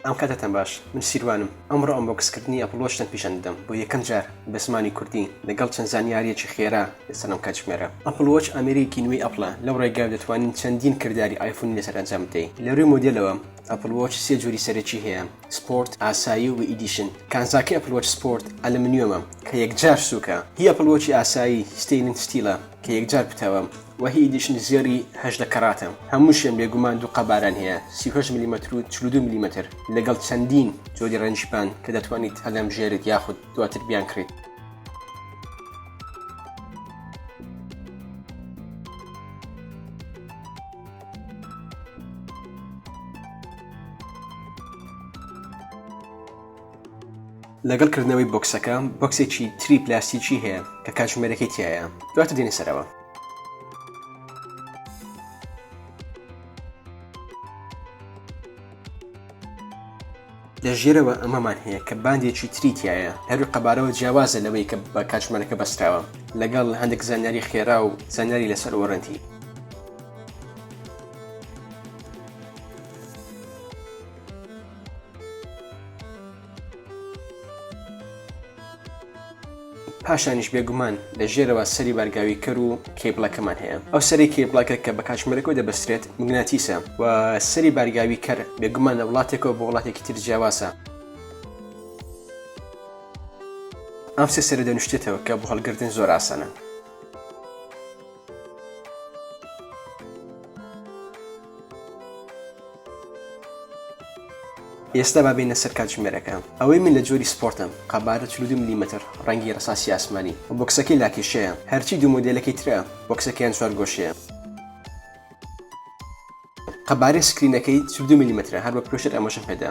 ئەم کاتەتان باش من سیروانم ئەمڕۆ ئەم بۆ کەسکردنی ئەپلۆشتن پیشان دەدەم بۆ یەکەم جار بە زمانی کوردی لەگەڵ چەند زانیاریەکی خێرا لەسەرم کاتژمێرە ئەپلۆچ ئەمریکی نوێی ئەپلە لەو ڕێگا دەتوانین چەندین کردداری ئایفونی لەسەر ئەنجام بدەین لەروی مۆدلەوە ئەپلۆچ سێ جووری سەرەکی هەیە سپۆرت ئاسایی و ئیدیشن کانزاکە ئەپلۆچ سپۆرت ئەلمنیۆمە کە یەکجار سووکە هی ئەپلۆچی ئاسایی ستینن ستیلە کە یەکجار پتەوە وە هی ئیدیشن زێڕی هەژدە کەڕاتە هەمووشیان بێگومان دوو قەبارەن هەیە سی و هەشت ملیمەتر و چل و دوو ملیمەتر لەگەڵ چەندین جۆری ڕەنگی پان کە دەتوانیت هەلەمژێریت یاخود دواتر بیانکڕیت. لەگەڵ کردنەوەی بۆکسەکە بۆکسێکی تری پلاستیکی هەیە کە کاتژمێرەکەی تایە دواتە دێنە سەرەوە لە ژێرەوە ئەمەمان هەیە کە باندێکی تری تایە هەروی قەبارەوە جیاوازە لەوەی کە بە کاتژمانەکە بەستراوە لەگەڵ هەندێک زانیاری خێرا و زانیاری لەسەر وەرەنتی پاشانیش بێگومان لە ژێرەوە سەری بارگاویکەر و کێبڵەکەمان هەیە ئەو سەری کێبڵەکە کە بە کاتژمێرەکەەوە دەبەسترێت مگناتیسە و سەری بارگاوی کەر بێگومان لە وڵاتێکەوە بۆ وڵاتێکی تر جیاواسە ئەم سێ سەرە دەنوشتێتەوە کە بۆ هەڵگردن زۆر ئاسانە ئێستا با بێینە سەر کاتژمێرەکە. ئەوەی من لە جۆری سپۆرتم، قەبارە چل و دوو ملیمەتر، ڕەنگی ڕەساسی ئاسمانی، و بۆکسەکەی لاکێشەیە، هەرچی دوو مۆدێلەکەی ترە، بۆکسەکەیان چوارگۆشەیە. قەبارەی سکرینەکەی چل و دوو ملیمەترە، هەر بە پرۆشەر ئاماژەم پێدا.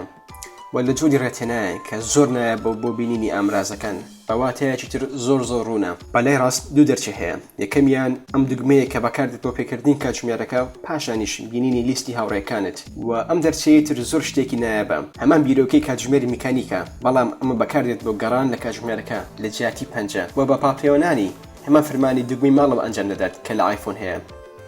و لە جۆری ڕێتێنایەک کە زۆر نایابە بۆ بینینی ئامرازەکان بە واتایەکی تر زۆر زۆر ڕوونە. بە لای ڕاست دوو دەرچە هەیە، یەکەمیان ئەم دوگمەیە کە بەکاردێت بۆ پێکردنی کاتژمێرەکە و پاشانیش بینینی لیستی هاوڕێکانت و ئەم دەرچەی تر زۆر شتێکی نایابە هەمان بیرۆکەی کاتژمێری میکانیکە بەڵام ئەمە بەکاردێت بۆ گەڕان لە کاتژمێرەکە لە جیاتی پەنجە و بە پاڵپێوەنانی هەمان فرمانی دوگمەی ماڵەوە ئەنجام دەدات کە لە ئایفۆن هەیە.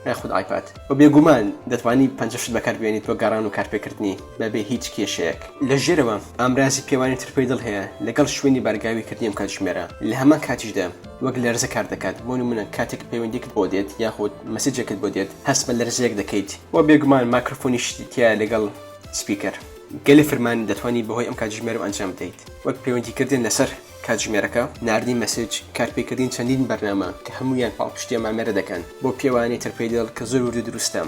ئەی خود ئایپاد و بێگومان دەتوانی پەنجە شت بەکار بێنیت بۆ گەڕان و کارپێکردنی بەبێ هیچ کێشەیەک. لە ژێرەوە ئامرازی پێوانی ترپەی دڵ هەیە لەگەڵ شوێنی بارگاوی کردنی ئەم کاتژمێرە لە هەمان کاتیشدا وەک لەرزە کار دەکات بۆ نمونە کاتێک پەیوەندیەکت بۆ دێت یاخود مەسیجێکت بۆ دێت هەست بە لەرزەیەک دەکەیت و بێگومان ماکرۆفۆنیشی تیایە لەگەڵ سپیکەر. گەلێ فرمان دەتوانی بەهۆی ئەم کاتژمێرەوە ئەنجام بدەیت وەک پەیوەندی کردن لەسەر. کاتژمێرەکە، ناردنی مەسج، کارپێکردنی چەندین بەرنامە کە هەموویان پاڵپشتی ئەم ئامێرە دەکەن، بۆ پێوانەی ترپەیدڵ کە زۆر وردو دروستە.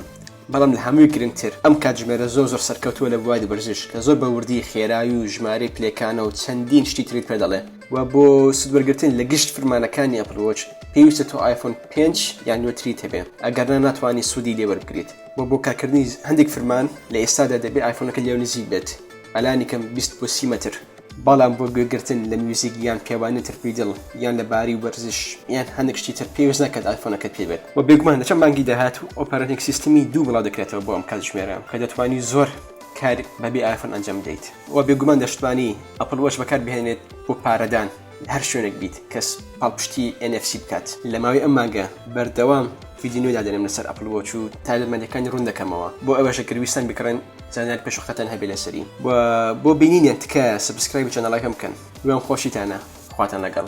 بەڵام لە هەمووی گرنگتر ئەم کاتژمێرە زۆر زۆر سەرکەوتووە لە بواری وەرزش کە زۆر بە وردی خێرای و ژمارەی پلەکانە و چەندین شتی تریت پێ دەڵێ. وە بۆ سود وەرگرتن لە گشت فرمانەکانی ئەپڵ وۆچ پێویستە تۆ ئایفۆن پێنج یان نوێتریت هەبێ ئەگەرنا ناتوانی سودی لێ وەربگریت وە بۆ کارکردنی هەندێک فرمان لە ئێستادا دەبێ ئایفۆنەکە لێو نزیک بێت ئەلانی کەم بیست بۆ سی مەتر. بەڵام بۆ گوێگرتن لە میوزیک یان پێوانی تر پێی دڵ یان لە باری وەرزش یان هەندێک شتی تر پێویست ناکات ئایفۆنەکەت پێ بێت وە بێگومان لە چەند مانگی داهاتوو ئۆپەرەتینگ سیستمی دوو بڵاو دەکرێتەوە بۆ ئەم کاتژمێرە کە دەتوانی زۆر کار بەبێ ئایفۆن ئەنجام بدەیت وە بێگومان دەشتوانی ئەپڵ وەچ بەکار بهێنێت بۆ پارەدان. هەر شوێنێک بیت کەس پاڵپشتی NFC بکات لە ماوەی ئەم مانگە بەردەوام فیدی نوێ دادەنێم لەسەر ئەپل وۆچ و تایبەتمەندەکانی ڕوون دەکەمەوە بۆ ئەوەشە گەرویستان بکڕن زانیار پێشوقەتەن هەبێ لەسەری و بۆ بینینیان تکایە سبسکرایب چەنەڵەکەم بکەن وێم خۆشیتانە خواتان لەگەڵ